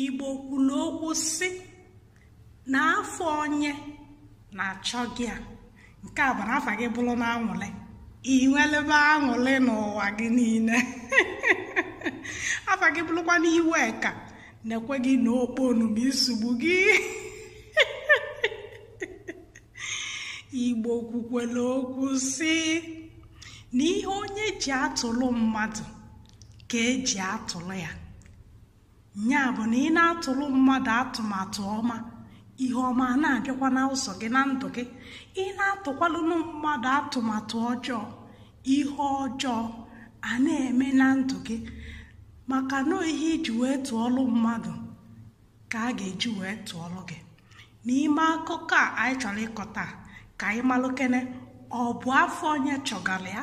igbo kwuru okwu sị na afa onye na-achọga ya nke a bụ na afa gị bụrụ na anwụlị i nwelube aṅụlị n'ụwa gị niile afa gị bụrụkwa n'iwe ka na-ekwe gị na okpo ọnụma isogbu gị igbo kwukwere okwu sị na ihe onye ji atụrụ mmadụ ka e ji atụrụ ya ya bụ na ị na-atụrụ mmadụ atụmatụ ọma ihe ọma na-abịakwa na ụzọ gị na ndụ gị ị na-atụkwalụnụ mmadụ atụmatụ ọjọọ ihe ọjọọ a na-eme na ndụ gị maka na ihe i ji wee tụọlụ mmadụ ka a ga-eji wee tụọlụ gị n'ime akụkọ a anyị chọrọ ịkọ taa ka anyị malụkene ọ bụ afa onye chọgara ya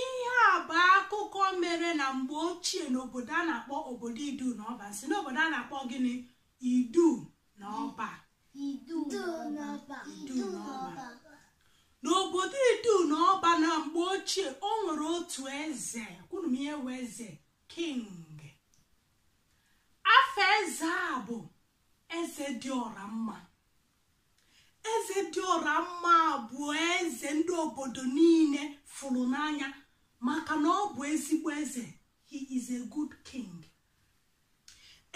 ihe a bụ akụkọ mere na mgbe ochie n'obodo a na-akpọ obodo idu na ọba m sị n'obodo a na-akpọ gịnị idu na ọba n'obodo idu na ọba na mgbe ochie o nwere otu eze kwuru m ihe bụ eze king afa eze a bụ eze dị ọra mma eze dị ọra mma bụ eze ndị obodo niile fụrụ n'anya maka na ọ bụ ezigbo eze he is a good king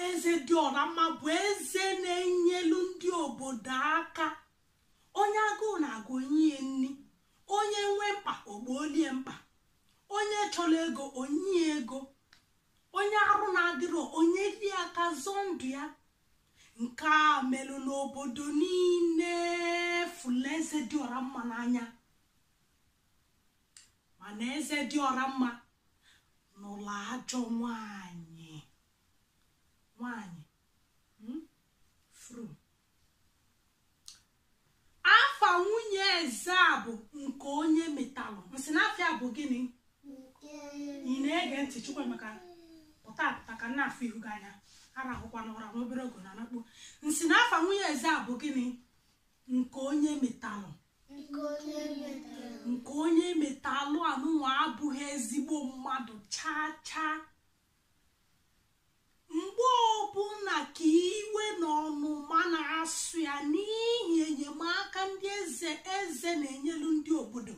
eze dị ọra mma bụ eze na-enyelu ndị obodo aka onye agụụ na-agụ o nye ya nri onye nwee mkpa o gboolu ya mkpa onye chọrọ ego o nye ya ego onye arụ na-adịrọ o nyelu ya aka zọọ ndụ ya nke a melụ n'obodo niile fụlụ eze dị ọra mma n'anya mana eze dị ọra mma nụlụ ajọ nwanyị nwanyị hmm? fru afa nwunye eze a bụ nke onye metalụ m sị na afa ya bụ gịnị ị na-ege ntị chukwuamaka pụta apụta ka m na-afụ ihu gị anya arahụkwana ụra n'obere ogo na nakpo m sị na afa nwunye eze a bụ gịnị nke onye metalụ nke onye metara nke onye metalụ anụnwa abụghị ezigbo mmadụ chaa chaa mgbe ọbụla ka iwe na ọnụma na-asụ ya n'ihi enyemaka ndị eze eze na-enyelu ndị obodo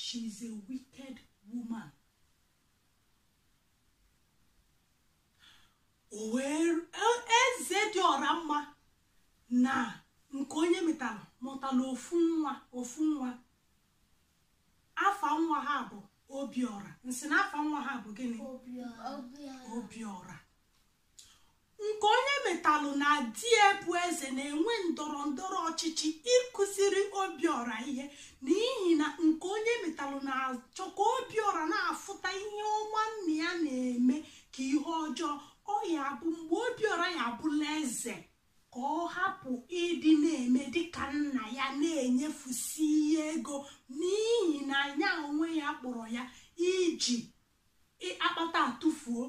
she is a wicked woman eze dị ọra mma na nke onye metara mụtara ofu nwa ofu nwa afa nwa ha bụ obiọra m sị na afa nwa ha bụ gịnị obiọra nke onye metalụ na di ya bụ eze na-enwe ndọrọ ndọrọ ọchịchị ịkụziri obiọra ihe n'ihi na nke onye metalụ na-achọ ka obiọra na-afụta ihe ọma nna ya na-eme ka ihe ọjọọ ọ ya-abụ mgbe obiọra ya-abụlụ eze ka ọ hapụ ịdị na-eme dịka nna ya na-enyefusi ihe ego n'ihi na nya onwe ya kpọrọ ya iji akpata atụfuo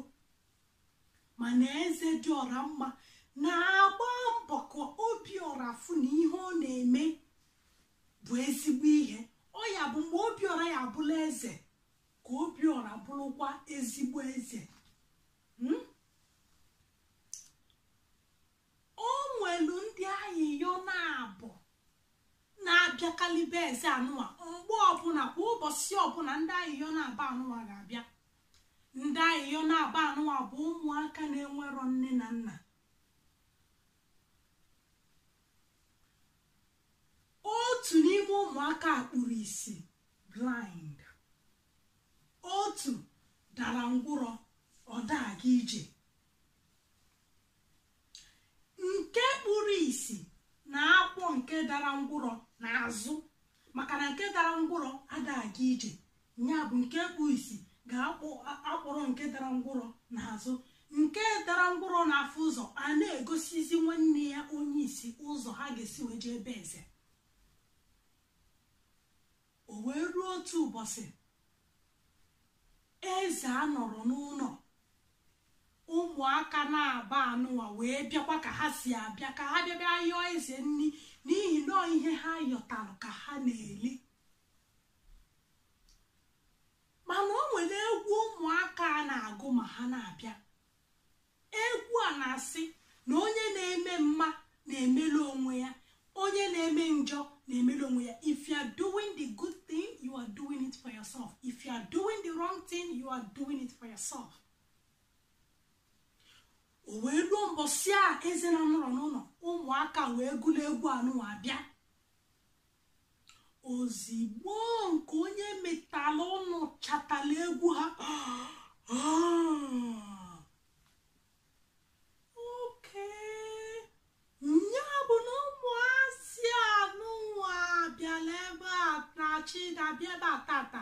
mana eze dị ọra mma na-agba mbọ ka obiọra fụ na ihe ọ na-eme bụ ezigbo ihe ọ ya-abụ mgbe obiọra ya-abụlụ eze ka obiọra bụrụkwa ezigbo eze hmm? o nwelu ndị ayịyọ naabọ na-abịakalị be eze anụwa mgbe ọbụna kwa ụbọsị ọbụna ndị ayịyọ naabọ anụwa ga-abịa ndị ayịyọ naabọ anụwa bụ ụmụaka na-enwerọ nne na nna otu n'ime ụmụaka a kpuru isi blind otu dara ngwụrọ ọ da-aga ije nke kpuru isi na-akwọ nke dara ngwụrọ n'azụ maka na nke dara ngwụrọ ada-aga ije ya bụ nke kpuru isi ga-akwọrọ nke dara ngwụrọ n'azụ nke dara ngwụrọ na-afụ ụzọ a na-egosizi nwanne ya onye isi ụzọ ha ga-esi wee jee be eze O wee ruo otu ụbọsị eze a nọrọ n'ụnọ ụmụaka naabọ anụwa wee bịakwa ka ha si abịa ka ha bịa bịa yọọ eze nni n'ihi na ihe ha yọtara ka ha na-eli mana o nwere egwu ụmụaka a na-agụ ma ha na-abịa egwu a na-asị na onye na-eme mma na-emelu onwe ya onye na-eme njọ na-emelu onwe ya if you are doing the good thing you are doing it for yourself if you are doing the wrong thing you are doing it for yourself o wee luo mbọsị a eze na nọrọ n'ụnọ ụmụaka wee gụlụ egwu anụwa bịa ozigbo nke onye metalụ nụchatala egwu ha okay nya bụ na ụmụazị anụnwa bịalụ ebe a n'echi ga-abịa ebe a tata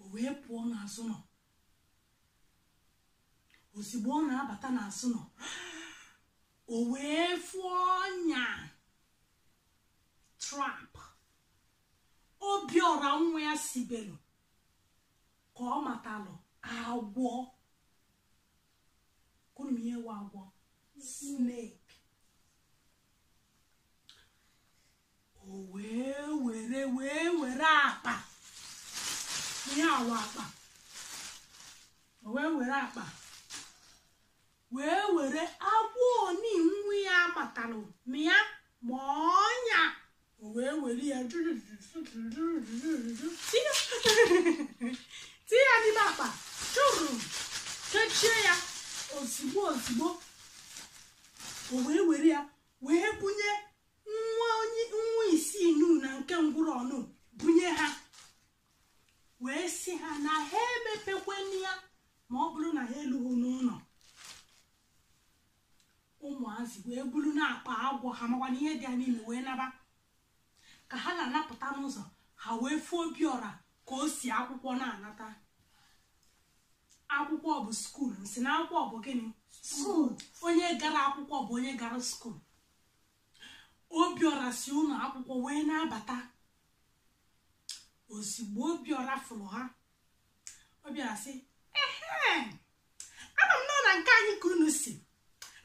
o wee pụọ n'azụ ụnọ ozigbo ọ na-abata n'azụ ụnọ o wee fụ ọnya trap obiọra nwa ya sibelu ka ọ matalụ agwọ ọkwa unu ma ihe wụ agwọ snake o wee were wee were akpa ihe a wụ akpa o wee were akpa wee were agwọ ọnị nwa ya matalụ ma ya ma ọnya o wee were ya tinye ya n'ime akpa chụrụ kechie ya ozigbo ozigbo o wee were ya wee bunye nwa onye nwa isi nụ na nke ngwụrọ ọnụ bunye ha wee sị ha na ha emepekwana ya ma ọ bụrụ na ha elughị n'ụnọ ụmụazị wee buru nwa akpa agwọ ha makwa na ihe dị ya n'ime wee naba ka ha na-anapụta n'ụzọ ha wee fụ obiọra ka o si akwụkwọ na-anata akwụkwọ bụ school m sị na akwụkwọ bụ gịnị school onye gara akwụkwọ bụ onye gara school obiọra si ụnọ akwụkwọ wee na-abata ozigbo obiọra fụrụ ha obiọra sị ehe ama m na ọ na nke anyị ka unu si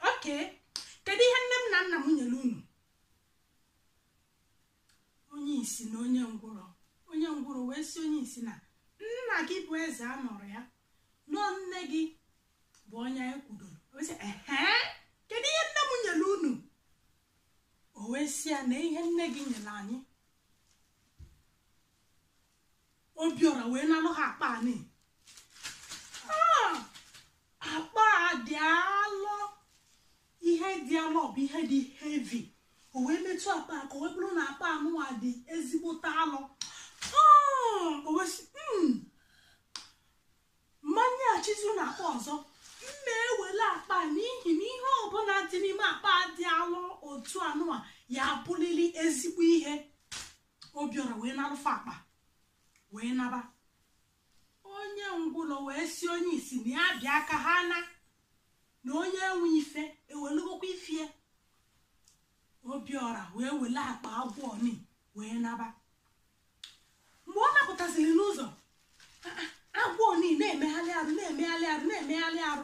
okay kedu ihe nne m na nna m nyere unu onye isi na onye ngwụrọ onye ngwụrọ wee sị onye isi na nna gị bụ eze anọrọ ya na ọ nne gị bụ onye anyị kwudoro o wee sị ehe kedu ihe nne m nyere unu o wee sị ya na ihe nne gị nyere anyị obiọra wee nalụ ha akpa ọnị ah, akpa a dị alọ ihe dị alọ bụ ihe dị heavy o wee metụ akpa aka o wee bụrụ na akpa anụwa dị ezigbote alọ o wee sị mmanya achizu na akpa ọzọ mma ewele akpa n'ihi na ihe ọbụla dị n'ime akpa dị alọ otu anụwa ya-abụlili ezigbo ihe obiọra wee narụ fa akpa wee naba onye ngwụlọ wee sị onye isi na ya bịa ka ha naa na onye nwe ife ewelugokwa ife ya obiọra wee wele akpa agwọ ọnị wee naba mgbe ọ napụtasịrị n'ụzọ agwọ ọnị na-emegharị arụ na-emegharị arụ na-emegharị arụ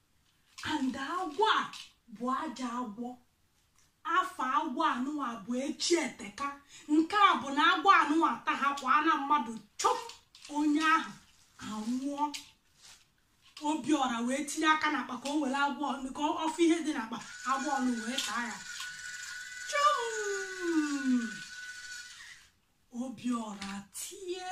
and agwọ a bụ ajọ agwọ afa agwọ anụwa bụ echi eteka nke bụ na agwọ anụwa ta ha kwa na mmadụ chọm onye ahụ anwụọ obiọra wee tinye aka n'akpa ka o were agwọ ka ọ fụ ihe dị n'akpa agwọ nụ wee taa ya chọm obiọra tie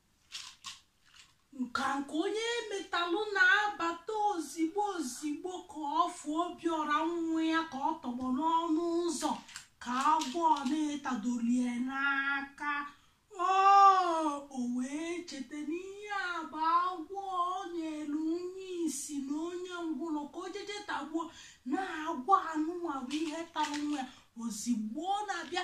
nka nke onye metalụ na-abata ozigbo ozigbo ka ọ fụ obiọra nwa ya ka ọ tọgbọ n'ọnụ ụzọ ka agwọ na-etadolie n'aka o wee cheta na ihe a bụ agwọ o nyelu onye isi na onye ngwụlọ ka o jeje tagbuo na agwọ anụnwa bụ ihe tara nwa ya ozigbo ọ na-abịa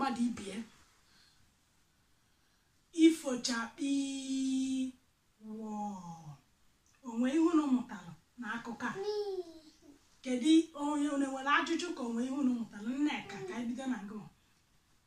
mmadụ ibe ya ifo chakpi wọ o nwe ihe unu mụtara n'akụkọ a kedu onye nwere ajụjụ ka o nwe ihe unu mụtara nneka ka anyị bido na gị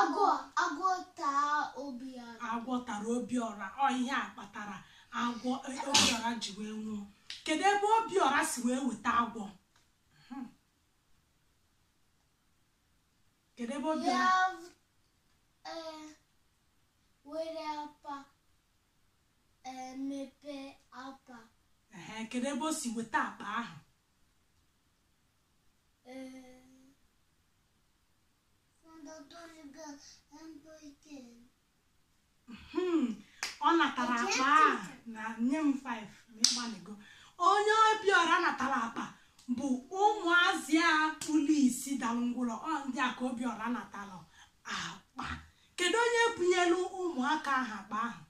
agwọ agwọ taa obiọra agwọ tara obiọra ọ ihe a kpatara agwọ e, obiọra ji wee nwụọ kedu ebe obiọra si wee weta agwọ hmm. kedu ebe obiọra e, were akpa mepe akpa kedu ebe o si weta akpa ahụ Hmm, ọ natara akpa a na nye m 5 ma ị gbalịgo onye obiọra natara akpa bụ ụmụazị a kpuru isi dalụ ngwụrọ ọ ndị a ka obiọra natara akpa kedu onye bunyelu ụmụaka ahụ akpa ahụ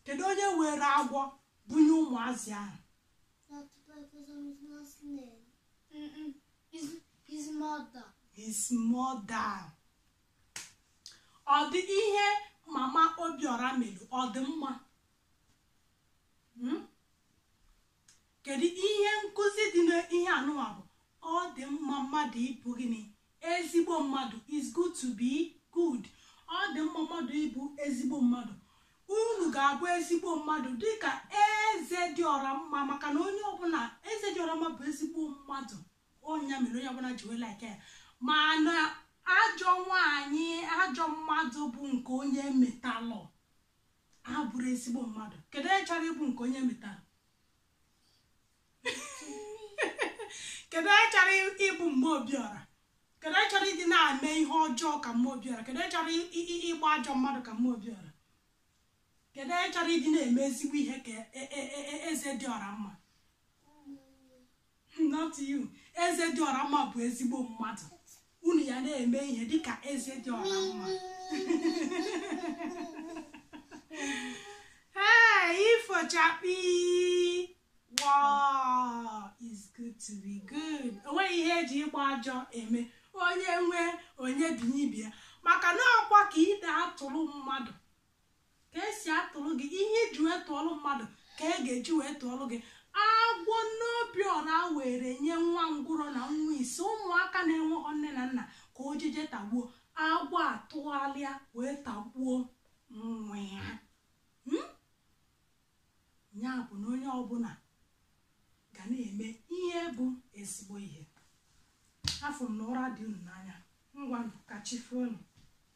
kedu onye were agwọ bunye ụmụazị ahụ That bad person is not slave. Mm-mm. His, his mother. His mother. Ọ dị ihe mama Obiora mere ọ dị mma. Hmm? Kedu ihe nkụzi dị n'ihe anụwa bụ ọ dị mma mmadụ ịbụ gịnị ezigbo mmadụ is good to be good ọ dị mma mmadụ ịbụ ezigbo mmadụ unu ga-abụ ezigbo mmadụ dịka eze dị ọra mma maka na onye ọbụla eze dị ọra mma bụ ezigbo mmadụ ọ nya mere onye ọbụla ji wee like ya mana ajọ nwaanyị ajọ mmadụ bụ nke onye metalụ abụrọ ezigbo mmadụ kedu onye chọrọ ịbụ nke onye metalụ kedu onye chọrọ ịbụ mma obiọra kedu onye chọrọ ịdị na-eme ihe ọjọọ ka mma obiọra kedu onye chọrọ ịgba ajọ mmadụ ka mma obiọra kedu onye chọrọ ịdị na-eme ezigbo ihe ka e, e, e, eze dị ọra mma not you eze dị ọra mma bụ ezigbo mmadụ unu ya na-eme ihe dịka eze dị ọra mma ee ifo chakpii woo is good to be good onweghị ihe eji ịgba ajọ eme onye nwee o nyebinye ibe ya maka na ọkwa ka ị na-atụrụ mmadụ ka esi atụrụ gị ihe i ji wee tụọrụ mmadụ ka e ga-eji wee tụọrụ gị agwọ mma obiọra were nye nwa ngwụrọ na nwa isi ụmụaka na-enweghọ nne na nna ka o jeje tagbuo agwọ atụgharịa wee tagbuo nwa ya hmm? ya bụ na onye ọbụla ga na-eme ihe bụ ezigbo ihe afụ m na ụra dị unu n'anya ngwa ka chi foo nụ